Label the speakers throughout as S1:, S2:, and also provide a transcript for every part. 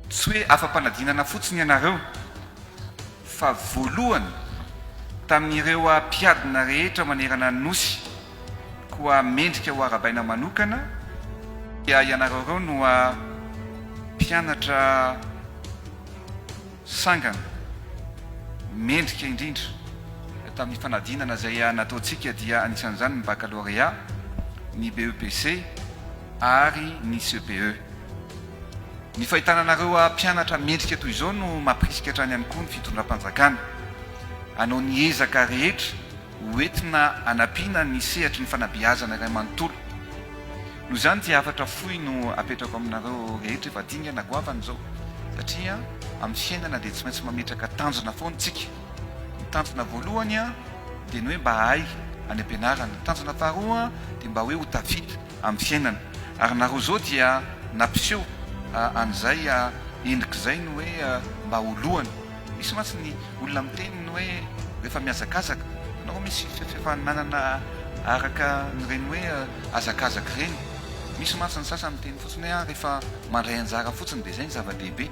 S1: Tsy hoe afa-panadinana fotsiny ianareo fa voalohany tamin'ireo mpiadina rehetra manerana ny Nosy koa mendrika ho arabaina manokana dia ianareo ireo no mpianatra sangany mendrika indrindra tamin'ny fanadinana izay nataontsika dia anisan'izany ny bakalôrea, ny BEPC ary ny CPE. Ny fahitana anareo mpianatra mendrika toy izao no mampirisika hatrany ihany koa ny fitondram-panjakana hanao ny ezaka rehetra ho entina hanampiana ny sehatry ny fanabeazana iray manontolo. Noho izany dia hafatra fohy no apetrako aminareo rehetra efa dingana goavana izao satria amin'ny fiainana dia tsy maintsy mametraka tanjona foana isika. Ny tanjona voalohany dia ny hoe mba hahay any am-pianarana. Ny tanjona faharoa dia mba hoe ho tafita amin'ny fiainana. Ary nareo izao dia nampiseho an'izay endrika izay ny hoe mba ho lohany. Misy mantsy ny olona miteny ny hoe rehefa mihazakazaka, na koa misy fifaninanana araka an'ireny hoe hazakazaka ireny. Misy mantsy ny sasany miteny fotsiny hoe rehefa mandray anjara fotsiny dia izay ny zava-dehibe.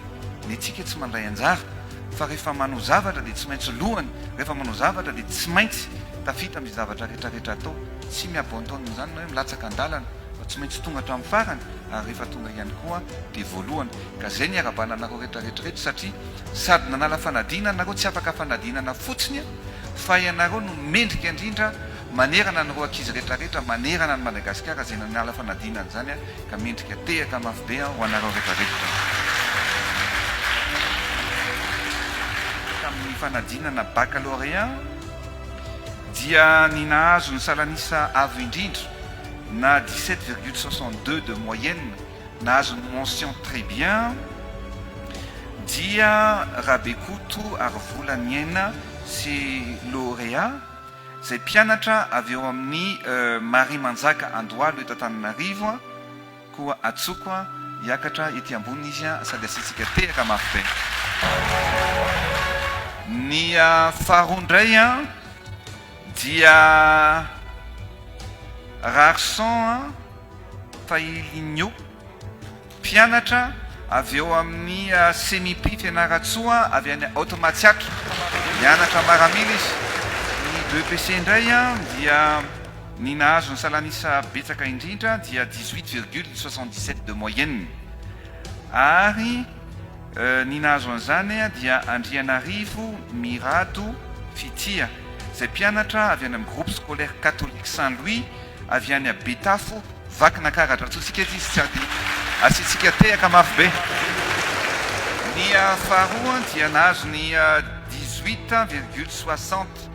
S1: Ny antsika tsy mandray anjara fa rehefa manao zavatra dia tsy maintsy lohany, rehefa manao zavatra dia tsy maintsy tafita amin'izay zavatra rehetra rehetra atao. Tsy mihabontao amin'izany ny hoe milatsaka an-dalana fa tsy maintsy tonga hatramin'ny farany ary rehefa tonga ihany koa dia voalohany. Ka izay ny iarahabana anareo rehetra rehetra ireto satria. Sady nanala fanadinana nareo tsy afaka fanadinana fotsiny fa ianareo no mendrika indrindra manerana an'ireo ankizy rehetra rehetra manerana an'i Madagasikara izay nanala fanadinana izany ka mendrika tehaka mafy be ho anareo rehetra rehetra tamin'ny fanadinana baccalauréat dia ny nahazo ny salan'isa avo indrindra na dix-sept virgule soixante-deux de moyenne Nahazo ny mention très bien dia Rabekoto Harivola Niaina sy Lauréat izay mpianatra avy ao amin'ny Mariamanjaka Andohalo eto Antananarivo koa atsoko hiakatra ety ambony izy sady asiantsika tehaka mafy be ny faharoa indray dia Rarson Tahilinho, mpianatra avy ao amin'ny CEMIP Fianarantsoa avy any Haute Matsiatra, mianatra maramila izy. Ny BEPC indray dia ny nahazo ny salan'isa betsaka indrindra dia dix-huit virgule soixante-dix-sept de moyenne ary Ny nahazo an'izany dia Andrianarivo Mirado Fitia, izay mpianatra avy any amin'ny Groupe Scolaire Catholique Saint Louis avy any Betafo, Vakinakaratra. Antsointsika eto izy tsy ady, asiantsika tehaka mafy be. Ny faharoa dia nahazo ny dix-huit virgule soixante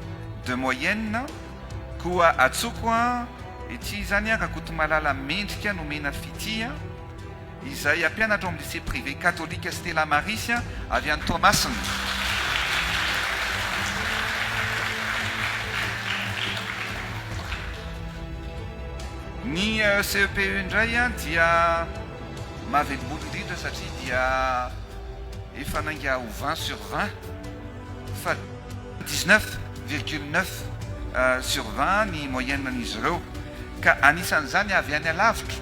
S1: de moyenne, koa Atsoko ity izany, Rakotomalala Mendrika Nomena Fitia. izay hampianatra ao amin'ny Lycée Privé Katolika Stella Maris avy any Toamasina. Ny CEPE indray dia mahavelom-bolo indrindra satria dia efa nainga ho vingt sur vingt. Fa 19 virgule 9 sur 20 ny moyenne an'izy ireo, ka anisan'izany avy any alavitra,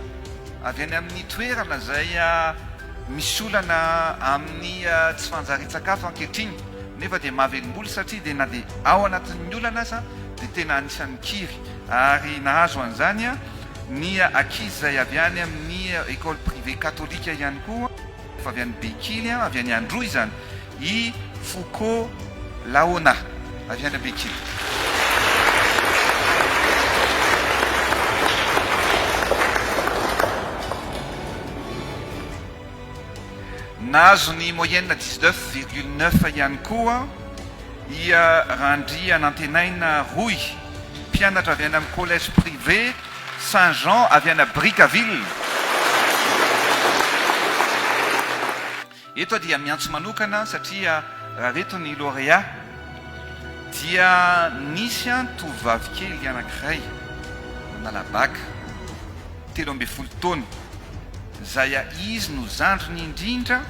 S1: avy any amin'ny toerana izay misy olana amin'ny tsy fanjarian-tsakafo ankehitriny, nefa dia mahavelom-bolo satria dia na dia ao anatin'ny olana aza dia tena anisan'ny kiry, ary nahazo an'izany ny ankizy izay avy any amin'ny école privée katolika ihany koa. Efa avy any Bekily, avy any Androy izany i Fouco Laona, avy any Bekily. Nahazo ny moyenne dix-neuf virgule neuf ihany koa i Randrianantenaina Roy, mpianatra avy any amin'ny collège privé Saint Jean avy any Brickaville. Eto aho dia miantso manokana satria raha reto ny lauréat dia nisy an tovovavy kely anankiray nanala bac telo ambin'ny folo taona izay a izy no zandriny indrindra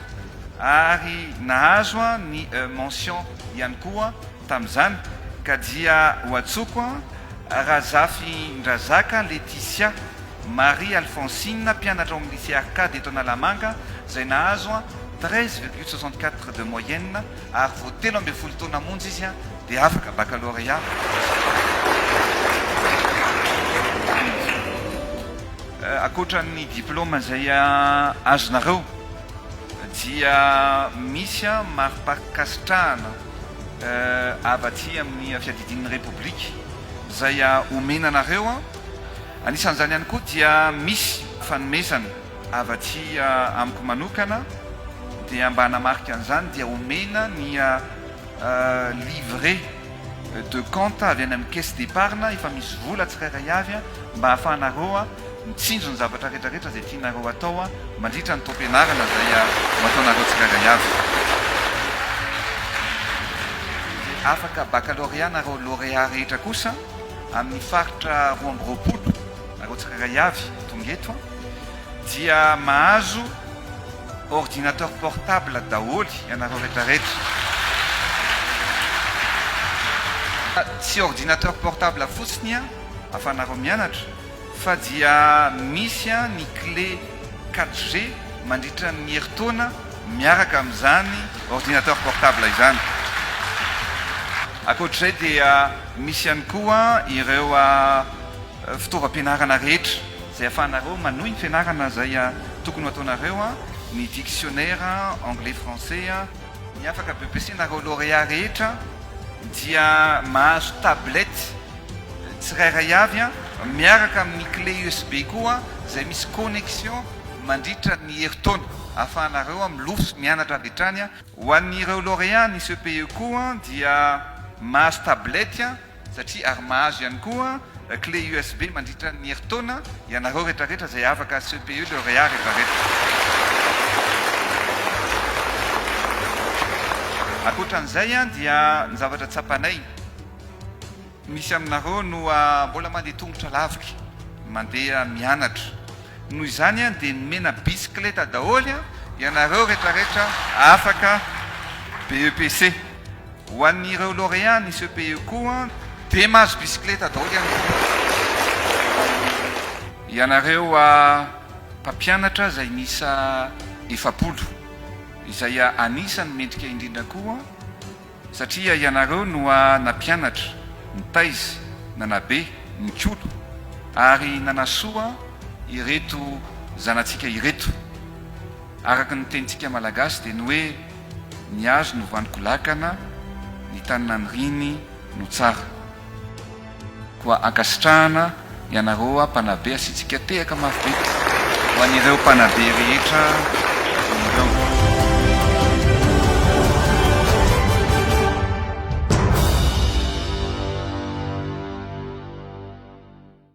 S1: ary nahazo an ny mention ihany koa Tamin'izany ka dia ho antsoiko an, Razafindrazaka Letisia Marie Alphonsine, mpianatra ao amin'ny Lycée Arcade eto Analamanga, izay nahazo an, treize virgule soixante-quatre de moyenne ary vao telo ambin'ny folo taona monja izy an, dia afaka baccalauréat Ankoatra ny diplaoma izay azonareo dia misy an, maripankasitrahana. avy aty amin'ny fiadidian'ny Repoblika izay omena anareo. Anisan'izany ihany koa dia misy fanomezana avy aty amiko manokana dia mba hanamarika an'izany dia omena ny livret de compte avy any amin'ny caisse d'épargne efa misy vola tsirairay avy mba hahafahanareo Mitsinjo ny zavatra rehetra rehetra izay tianareo hatao mandritra ny taom-pianarana izay ho ataonareo tsirairay avy. Izay afaka baccalauréat nareo lauréat rehetra kosa amin'ny faritra roa amby roapolo, nareo tsirairay avy tonga eto dia mahazo ordinateur portable daholo ianareo rehetra rehetra. Tsy ordinateur portable fotsiny ahafahanareo mianatra Fa dia misy ny clé 4G mandritra ny herintaona miaraka amin'izany ordinateur portable izany. Ankoatr'izay dia misy ihany koa ireo fitaovam-pianarana rehetra izay ahafahanareo manohy ny fianarana izay tokony ho ataonareo, ny dictionnaire anglais français. Ny afaka BEPC-nareo lauréat rehetra dia mahazo tablette tsirairay avy miaraka amin'ny clé usb koa izay misy connexion mandritra ny herintaona ahafahanareo milofo sy mianatra avy hatrany. Ho an'ireo lauréat ny CPE koa dia mahazo tablette satria ary mahazo ihany koa clé usb mandritra ny herintaona ianareo retraretra izay afaka CPE lauréat retraretra. Ankoatran'izay dia ny zavatra tsapanay. Misy aminareo no mbola mandeha tongotra lavitra, mandeha mianatra. Noho izany dia nomena bisikileta daholo ianareo retraretra afaka BEPC. Ho an'ireo lauréats ny CEPE koa dia mahazo bisikileta daholo ihany koa. Ianareo mpampianatra izay miisa efapolo, izay anisany mendrika indrindra koa. Satria ianareo no a nampianatra, nitaiza, nanabe, nikolo, ary nanasoa ireto zanatsika ireto. Araka ny tenintsika malagasy dia ny hoe ny hazo no vanon-kolakana, ny tany naniriany no tsara. Koa ankasitrahana ianareoa mpanabe asiantsika tehaka mafy be ho an'ireo mpanabe rehetra ireo.